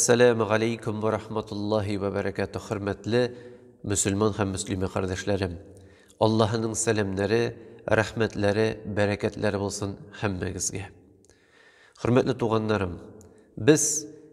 Сәләмә галәйкүм вә рахматуллаһи вә бәрәкәтүһ хөрмәтле мөселман һәм мөслимә кардәшләрем! Аллаһының сәламнәре, рәхмәтләре, бәрәкәтләре булсын һәммәгезгә! Хөрмәтле туганнарым! Без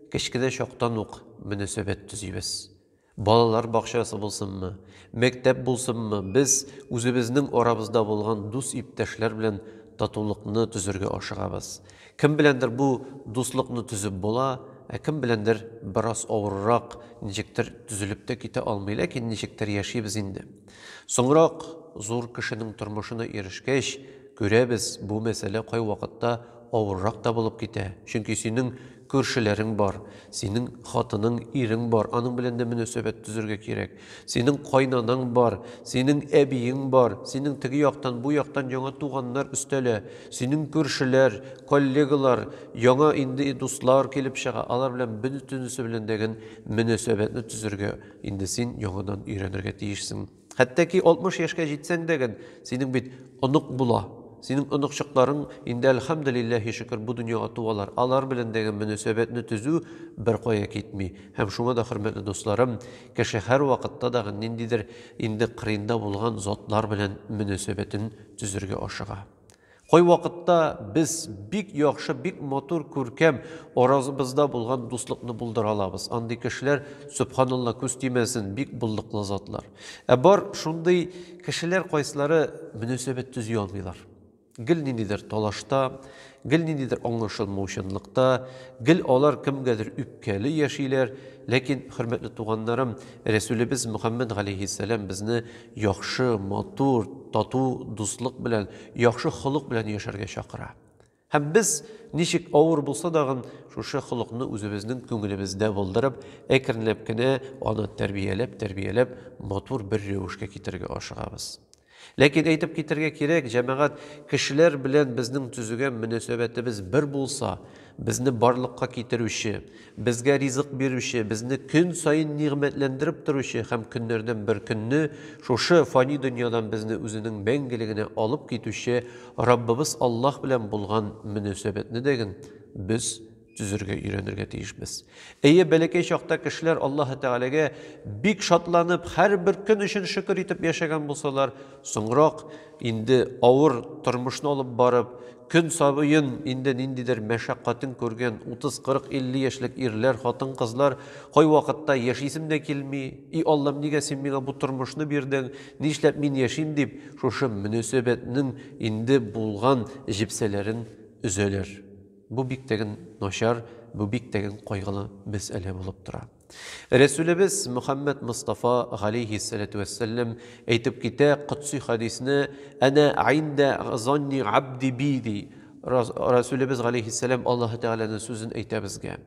кечкенә чактан ук мөнәсәбәт төзибез. Балалар бакчасы булсынмы, мәктәп булсынмы, без үзебезнең арабызда булган дус-иптәшләр белән татулыкны төзергә ашыгабыз. Кем беләндер бу дуслыкны төзеп була, ә кем беләндер бераз авыррак, ничектер төзелеп тә китә алмый, ләкин ничектер яшибез инде. Соңрак, зур кешенең тормышына ирешкәч, күрәбез, бу мәсьәлә кайвакытта авыррак та булып китә, чөнки синең күршеләрең бар, синең хатының, ирең бар, аның белән дә мөнәсәбәт төзергә кирәк, синең кайнанаң бар, синең әбиең бар, синең теге яктан, бу яктан яңа туганнар өстәлә, синең күршеләр, коллегалар, яңа инде дуслар килеп чыга, алар белән бөтенесе белән дә гел мөнәсәбәтне төзергә. Инде син яңадан өйрәнергә тиешсең. Хәтта ки 60 яшькә җитсәң дә гән, синең бит онык була. Синең оныкчыкларың инде, әлхәмделилләһи шөкер, бу дөньяга туалар. Алар белән дә гән мөнәсәбәтне төзү беркая китми. Һәм шуңа да, хөрмәтле дусларым, кеше һәрвакытта да гән ниндидер инде кырыенда булган затлар белән мөнәсәбәтен төзергә ашыга. Кайвакытта без бик яхшы, бик матур, күркәм аразыбызда булган дуслыкны булдыра алабыз. Андый кешеләр, сөбханалла, күз тимәсен, бик булдыклы затлар. Ә бар шундый кешеләр, кайсылары мөнәсәбәт төзи алмыйлар. Гел ниндидер талашта, гел ниндидер аңлашылмаучанлыкта, гел алар кемгәдер үпкәле яшиләр. Ләкин, хөрмәтле туганнарым, Рәсүлебез Мөхәммәд галәйһиссәлам безне яхшы, матур, тату дуслык белән, яхшы холык белән яшәргә чакыра. Һәм без, ничек авыр булса дагын, шушы холыкны үзебезнең күңелебездә булдырып, әкренләп кенә аны тәрбияләп-тәрбияләп, матур бер рәвешкә китерергә ашыгабыз. Ләкин әйтеп китәргә кирәк, җәмәгать, кешеләр белән безнең төзегән мөнәсәбәтебез бер булса, Безне барлыкка китерүче, безгә ризык бирүче, безне көн саен нигъмәтләндереп торучы һәм көннәрдән бер көнне шушы фани дөньядан безне үзенең мәңгелегенә алып китүче Раббыбыз Аллаһ белән булган мөнәсәбәтне дә ген без төзергә өйрәнергә тиешбез. Әйе, бәләкәй чакта кешеләр Аллаһы Тәгаләгә бик шатланып, һәрбер көн өчен шөкер итеп яшәгән булсалар, соңрак, инде авыр тормышны алып барып, Көн сабыен инде ниндидер мәшәкатен күргән 30-40-50 яшьлек ирләр, хатын-кызлар кайвакытта яшисем дә килми, и Аллам, нигә син миңа бу тормышны бирдең, нишләп мин яшим дип, шушы мөнәсәбәтнең инде булган җепсәләрен өзәләр. Бу биктәген начар, бу биктәген кайгылы мәсьәлә булып тора. Рәсүлебез Мөхәммәд Мостафа галейһи сәләтү вәссәлләм әйтеп китә котси хәдисне әнә индә занни абди би ди. Рәсүлебез галейһи сәләм Аллаһы Тәгаләнең сүзен әйтә безгә.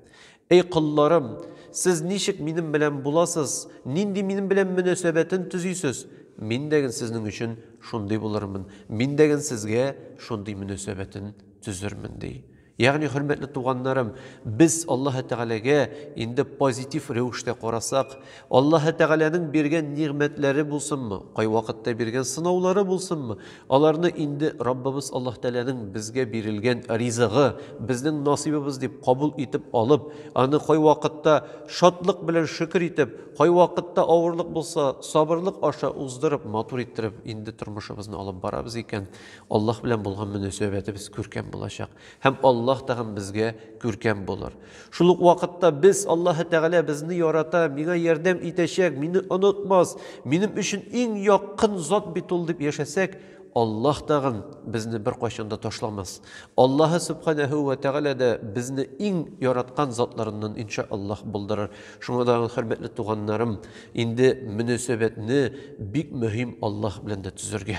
Эй колларым, сез ничек минем белән буласыз, нинди минем белән мөнәсәбәтен төзисез, мин дәген сезнең өчен шундый булырмын, мин дәген сезгә шундый мөнәсәбәтен төзермен, ди. Ягъни, хөрмәтле туганнарым, без Аллаһы Тәгаләгә инде позитив рәвештә карасак, Аллаһы Тәгаләнең биргән нигъмәтләре булсынмы, кайвакытта биргән сынаулары булсынмы, аларны инде Раббыбыз Аллаһ Тәгаләнең безгә бирелгән ризыгы, безнең насыйбыбыз дип кабул итеп алып, аны кайвакытта шатлык белән шөкер итеп, кайвакытта авырлык булса, сабырлык аша уздырып, матур иттереп инде тормышыбызны алып барабыз икән, Аллаһ белән булган мөнәсәбәтебез күркәм булачак һәм Аллаһ тагын безгә күркәм булыр. Шул ук вакытта без Аллаһы Тәгалә безне ярата, миңа ярдәм итәчәк, мине онытмас, минем өчен иң якын зат бит ул дип яшәсәк, Аллаһ тагын безне беркайчан да ташламас. Аллаһы Субханәһү вә Тәгалә дә безне иң яраткан затларыннан инша Аллаһ булдырыр. Шуңа да хөрмәтле туганнарым, инде мөнәсәбәтне бик мөһим Аллаһ белән дә төзергә.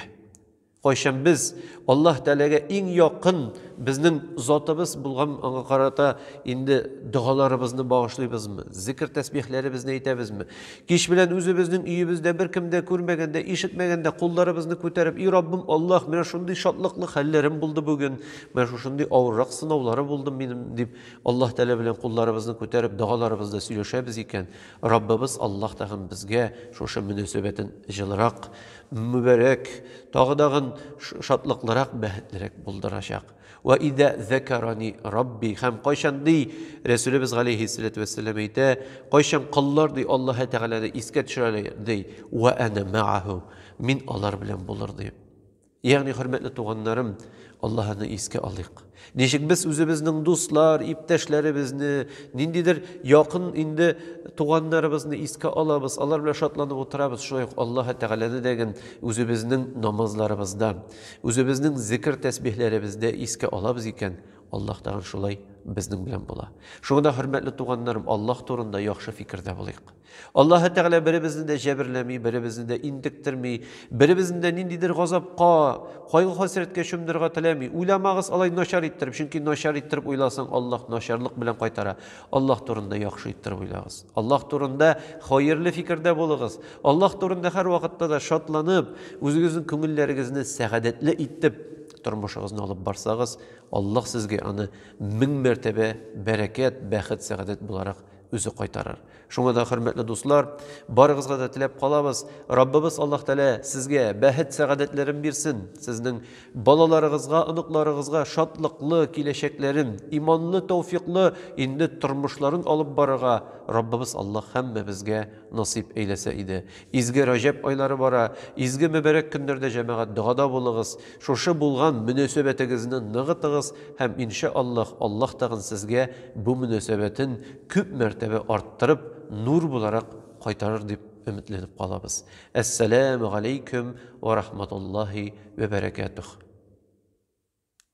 Кайчан без Аллаһ Тәгаләгә иң якын безнең Затыбыз булган аңа карата инде догаларыбызны багышлыйбызмы? Зикр тәсбихләребезне әйтәбезме? Кич белән үзебезнең өебездә беркем дә күрмәгәндә, ишетмәгәндә кулларыбызны күтәреп, "И Раббым Аллаһ, менә шундый шатлыклы хәлләрем булды бүген, менә шушындый авыррак сынаулары булды минем", дип Аллаһ Тәгалә белән кулларыбызны күтәреп догаларыбызда сөйләшәбез икән, Раббыбыз Аллаһ тагын безгә шушы мөнәсәбәтен җылырак Мөбарәк, тагы дагын шатлыклырак, бәхетлерәк булдырачак. Вә изә зәкәрани Рабби, һәм кайчан, ди, Рәсүлебез галәйһиссәләтү вәссәлам әйтә, кайчан коллар, ди, Аллаһы Тәгаләне искә төшерәләр, ди, вә әнә мәгәһү, мин алар белән булыр, ди. Ягъни, хөрмәтле туганнарым, Аллаһыны искә алыйк. Ничек без үзебезнең дуслар, иптәшләребезне, ниндидер якын инде туганнарыбызны искә алабыз, алар белән шатланып утырабыз, шулай ук Аллаһы Тәгаләне дә гел үзебезнең намазларыбызда, үзебезнең зикер тәсбихләребездә искә алабыз икән, Аллаһ тагын шулай безнең белән була. Шуңа да, хөрмәтле туганнарым, Аллаһ турында яхшы фикердә булыйк. Аллаһы Тәгалә беребезне дә җәберләми, беребезне дә интектерми, беребезне дә ниндидер газапка, кайгы-хәсрәткә чумдырырга теләми. Уйламагыз алай начар иттереп, чөнки начар иттереп уйласаң, Аллаһ начарлык белән кайтара. Аллаһ турында яхшы иттереп уйлагыз. Аллаһ турында хәерле фикердә булыгыз. Аллаһ турында һәрвакытта да шатланып, үзегезнең күңелләрегезне сәгадәтле итеп тормышыгызны алып барсагыз, Аллаһ сезгә аны мең мәртәбә бәрәкәт, бәхет, сәгадәт буларак үзе кайтарыр. Шуңа да, хөрмәтле дуслар, барыгызга да теләп калабыз, Раббыбыз Аллаһ Тәгалә сезгә бәхет-сәгадәтләрен бирсен, сезнең балаларыгызга, оныкларыгызга шатлыклы киләчәкләрен, иманлы, тәүфиклы инде тормышларын алып барырга Раббыбыз Аллаһ һәммәбезгә насыйп әйләсә иде. Изге Раҗәб айлары бара, изге мөбарәк көннәрдә җәмәгать догада булыгыз, Шушы булган мөнәсәбәтегезне ныгытыгыз һәм иншә Аллаһ, Аллаһ тагын сезгә бу мөнәсәбәтен күп мәртәбә арттырып, нур буларак кайтарыр дип өметләнеп калабыз. Әссәләмү галәйкүм вә рахматуллаһи вә бәрәкәтүһ.